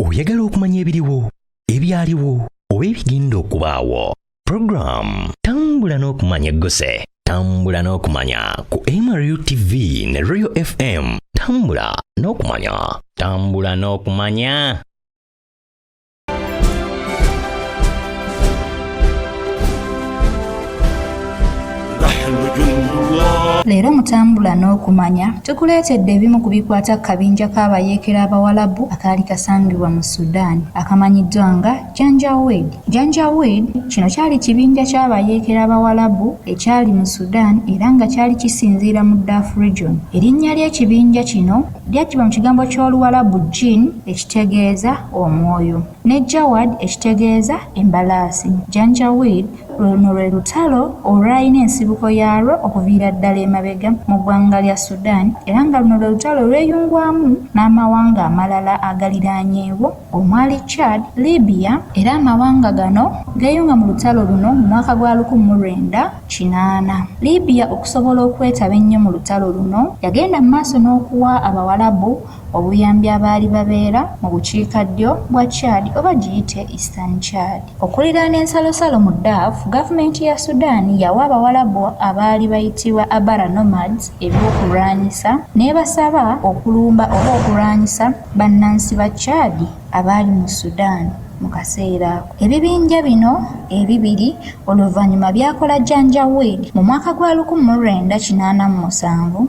oyagala okumanya ebiriwo ebyaliwo oba ebigenda okubaawo puroguramu tambula n'okumanya egguse tambula n'okumanya ku mru tv ne royal fm tambula n'okumanya tambula n'okumanya leero mutambula n'okumanya tukuleetedde ebimu ku bikwata ku kabinja k'abayeekera abawalabu akaali kasangibwa mu sudan akamanyiddwa nga janjawed janjawed kino kyali kibinja ky'abayeekera abawalabu ekyali mu sudan era nga kyali kisinziira mu daf region erinnya ly'ekibinja kino lyajjibwa mu kigambo ky'oluwalabu jin ekitegeeza omwoyo ne Jawad ekitegeeza embalaasi. Janjaweed, Luno lwe lutalo olwalina ensibuko yaalwo okuviira ddala emabega mu ggwanga lya Sudan era nga luno lwe lutalo olweyungwamu n'amawanga amalala agaliraanyeewo omwali Chad, Libya, era amawanga gano geeyunga mu lutalo luno mu mwaka gwa lukumi mu lwenda kinaana. Libya okusobola okwetaba ennyo mu lutalo luno, yagenda mu maaso n'okuwa Abawalabu obuyambi abaali babeera mu bukiika ddyo bwa Chad oba giyite Eastern Chad. Okuliraana ensalosalo mu Darf, gavumenti ya Sudan yawa Abawalabu abaali bayitibwa Abara Nomads eby'okulwanyisa n'ebasaba okulumba oba okulwanyisa bannansi ba Chad abaali mu Sudan mu kaseera ako. Ebibinja bino ebibiri oluvannyuma byakola Janjaweed mu mwaka gwa lukumu mu lwenda kinaana mu musanvu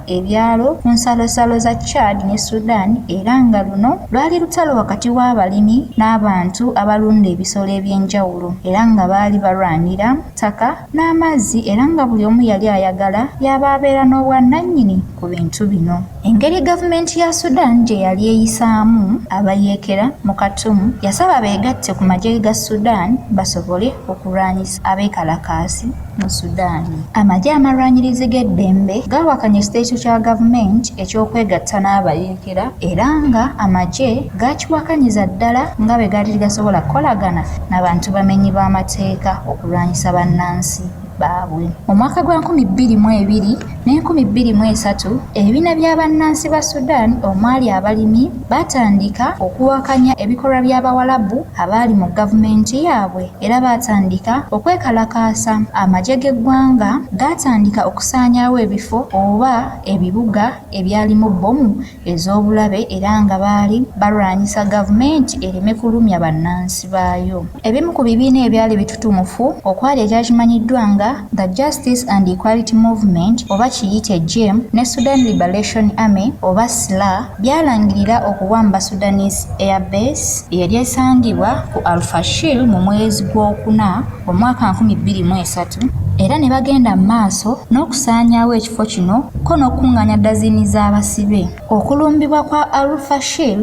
ebyalo ku nsalosalo za Chad ne Sudan era nga luno lwali lutalo wakati w'abalimi n'abantu abalunda ebisolo eby'enjawulo era nga baali balwanira ttaka n'amazzi era nga buli omu yali ayagala yaba abeera n'obwannannyini ku bintu bino. Engeri gavumenti ya Sudan gye yali eyisaamu abayeekera mu Khartoum yasaba beegatte ku magye ga Sudan basobole okulwanyisa abeekalakaasi. mu Sudan. Amagye amalwanyirizi g'eddembe gaawakanya ekiteeso kya gavumenti eky'okwegatta n'abayeekera era nga amagye gaakiwakanyiza ddala nga bwe gaali tegasobola kukolagana na bantu bamenyi b'amateeka okulwanyisa bannansi baabwe. Mu mwaka gwa nkumi bbiri mu ebiri, n'enkumi bbiri mu esatu ebibiina bya bannansi ba Sudan omwali abalimi baatandika okuwakanya ebikolwa by'Abawalabu abaali mu gavumenti yaabwe era baatandika okwekalakaasa. Amagye g'eggwanga gaatandika okusaanyaawo ebifo oba ebibuga ebyalimu bbomu ez'obulabe era nga baali balwanyisa gavumenti ereme kulumya bannansi baayo. Ebimu ku bibiina ebyali bitutumufu okwali ekyakimanyiddwa nga The Justice and Equality Movement oba kiyite jem ne Sudan Liberation Army oba sla byalangirira okuwamba Sudanese Air Base eyali esangibwa ku Al-Fashir mu mwezi gw'okuna omwaka nkumi bbiri mu esatu era ne bagenda mu maaso n'okusaanyaawo ekifo kino ko n'okukuŋŋaanya dazini z'abasibe okulumbibwa kwa alfashir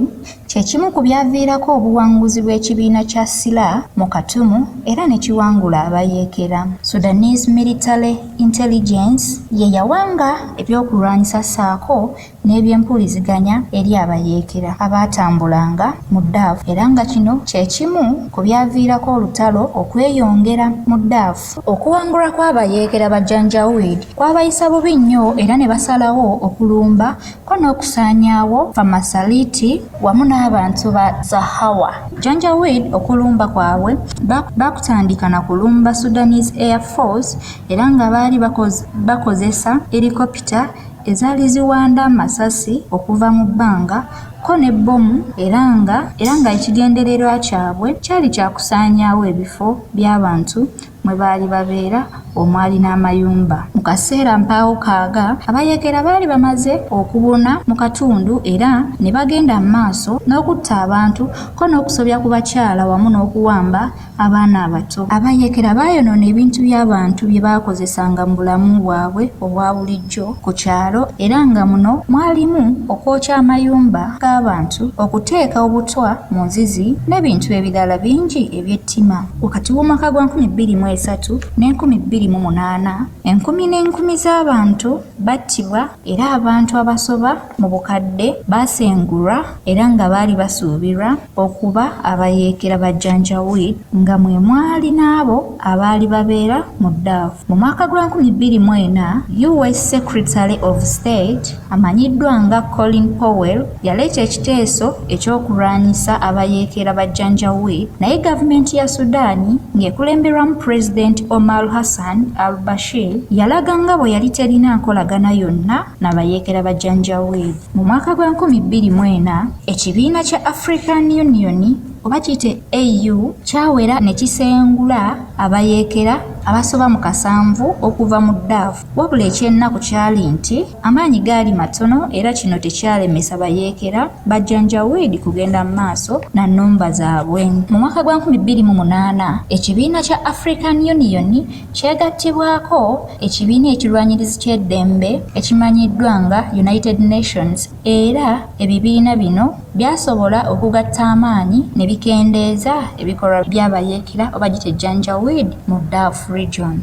kye kimu ku byaviirako obuwanguzi bw'ekibiina kya sila mu katumu era ne kiwangula abayeekera sudanese military intelligence ye yawanga ebyokulwanyisa ssaako n'ebyempuliziganya eri abayeekera abaatambulanga mu Daafu era nga kino kye kimu ku byaviirako olutalo okweyongera mu Daafu. Okuwangulwa kw'abayeekera ba Janjaweed kwabayisa bubi nnyo era ne basalawo okulumba ko n'okusaanyaawo Famasaliiti wamu n'abantu ba Zahawa. Janjaweed okulumba kwabwe baakutandika na kulumba Sudanese Air Force era nga baali bakozesa helicopter. ezaali ziwanda amasasi okuva mu bbanga kko ne bbomu era nga era nga ekigendererwa kyabwe kyali kya kusaanyaawo ebifo by'abantu mwe baali babeera omwali n'amayumba. Mu kaseera mpaawo kaaga abayeekera baali bamaze okubuna mu katundu era ne bagenda mu maaso n'okutta abantu kko n'okusobya ku bakyala wamu n'okuwamba abaana abato abayeekera baayonoona ebintu by'abantu bye baakozesanga mu bulamu bwabwe obwa bulijjo ku kyalo era nga muno mwalimu okwokya amayumba g'abantu okuteeka obutwa mu nzizi n'ebintu ebirala bingi eby'ettima wakati w'omwaka gwa 2023 ne 2008 enkumi n'enkumi z'abantu battibwa era abantu abasoba mu bukadde baasengulwa era nga baali basuubirwa okuba abayeekera ba Janjaweed nga mwe mwali n'abo abaali babeera mu Daf. Mu mwaka gwa 2004, US Secretary of State amanyiddwa nga Colin Powell Yaleeta ekiteeso eky'okulwanyisa abayeekera ba Janjaweed naye gavumenti ya Sudan ng'ekulemberwamu Pulezidenti Omar Hassan al-Bashir yalaga nga bwe yali terina nkolagana yonna na bayeekera ba Janjaweed. Mu mwaka gwa nkumi bbiri mu ena, ekibiina kya African Union oba kiyite AU kyawera ne kisengula abayeekera abasoba mu kasanvu okuva mu Darfur wabula eky'ennaku kyali nti, Amaanyi gaali matono era kino tekyalemesa bayeekera ba Janjaweed kugenda mu maaso na nnumba zaabwe. Mu mwaka gwa nkumi bbiri mu munaana, ekibiina kya African Union kyegattibwako ekibiina ekirwanyirizi ky'eddembe ekimanyiddwa nga United Nations era ebibiina bino Byasobola okugatta amaanyi ne bikendeeza ebikolwa bya bayeekera oba gite Janjaweed mu Darf Region.